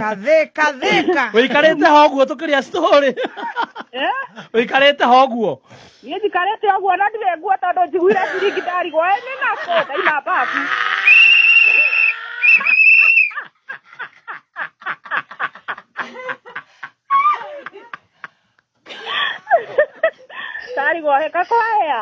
Katheka theka. Ũikarĩte ho ũguo tũkĩrĩa story. Eh? Ũikarĩte ho ũguo. Niĩ njikarĩte ũguo na ndirĩ nguo tondũ njiguire ciringi ndarigwo ĩ nĩ nako ndaima mbabu. Ndarigwo heka kwahĩa.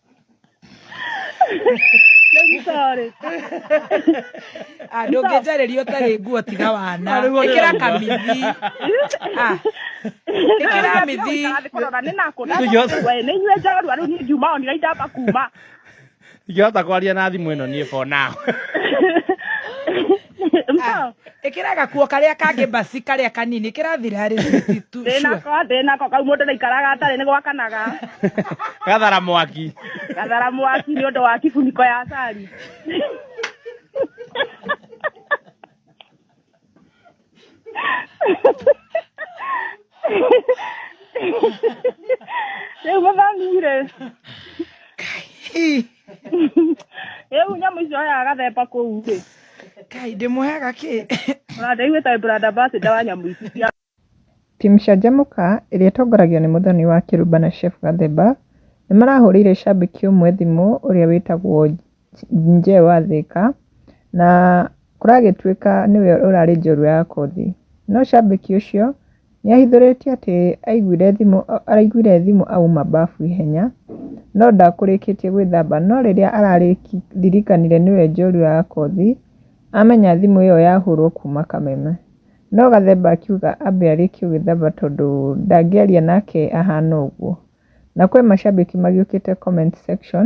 I'm sorry. Ah, ndũngĩnjarĩria ũtarĩ nguo tiga wana Arĩ guo ĩkĩra nĩ kamithi Ah, ĩkĩra mithi nĩnyue njorua rĩu niĩ ngiuma o nira indamba kuma ingĩhota kwaria na thimũ ĩno niĩ for now Ah, ĩkĩra gakuo karĩa kangĩ basi karĩa kanini kĩrathira rĩ sweetie, tu- sure. ndĩnako ndĩnako kau mũndũ ndaikaraga atarĩ nĩ gwakanaga gathara mwaki gathara mwaki nĩ ũndũ wa kibuniko ya cari rĩu mũthami-rĩ Ih, Rĩu nyamũ icio oya agathemba kũu rĩ. Kai ndĩmũheaga kĩ? Branda iwe ta branda ambassador wa nyamũ ici cia Timu Canjamũka ĩrĩa ĩtongoragio nĩ Mũthoni wa Kĩrumba na Shefu Gathemba nĩ marahũrĩire cambĩki ũmwe thimũ ũrĩa wĩtagwo Nje wa Thĩka na kũragĩtuĩka nĩwe ũrarĩ njorua ya kothi. No cambĩki ũcio Nĩahithũrĩtie atĩ araiguire thimũ auma mbafu ihenya no ndakũrĩkĩtie gwĩthamba no rĩrĩa araririkanire nĩwe njorua ya kothi amenya thimũ ĩyo yahũrwo kuma kameme. No Gathemba akiuga ambe arĩkie gwĩthamba tondũ ndangĩaria nake ahana ũguo. Na kwĩ macambĩki magĩũkĩte comment section